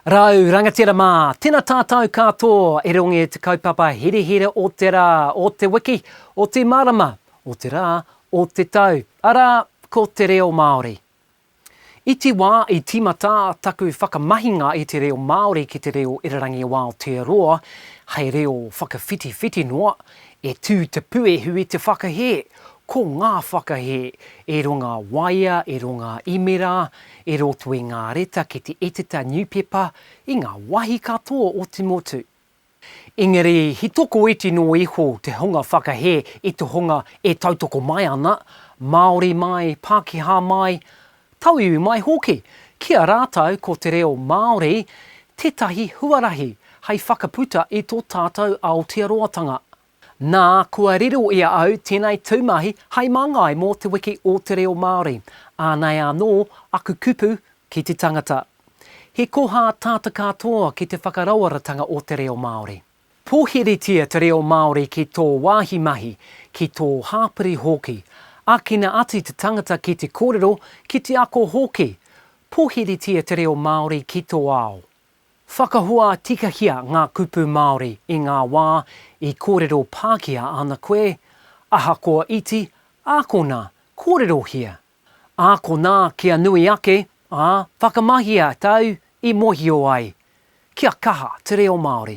Rau rangatira mā, tena tātau kātō e rongi i te kaupapa herehere o te rā, o te wiki, o te marama, o te rā, o te tau, arā, ko te reo Māori. I te wā i tīmata taku whakamahinga i te reo Māori ki te reo irarangi o Aotearoa, hei reo whakawhitiwhiti noa, e tū te puehu i te whakahē, Ko ngā whakahē e runga waea, e runga imera, e roto i ngā reta ki te Eteta Niupepa i ngā wahi katoa o te motu. Engari he tokoiti noa iho te hunga whakahē i te hunga e tautoko mai ana, Māori mai, Pākehā mai, Tauiwi mai hoki, ki a rātou ko te reo Māori tētahi huarahi hei whakaputa i tō tātou Aotearoatanga. Nā, kua riro i a au tēnei tūmahi hei māngai mō Te Wiki o te Reo Māori, ānei anō aku kupu ki te tangata. He koha tāta katoa ki te whakarawaratanga o te reo Māori. Pōhiritia te reo Māori ki tō wāhi mahi, ki tō hāpori hoki. Ākina atu te tangata ki te kōrero, ki te ako hoki. Pōhiritia te reo Māori ki tō ao. Whakahua tikahia ngā kupu Māori i ngā wā i kōrero Pākehā ana koe, ahakoa iti, ākona, kōrerohia. Ākona kia nui ake, ā, whakamahia tāu i mōhio ai. Kia kaha te reo Māori.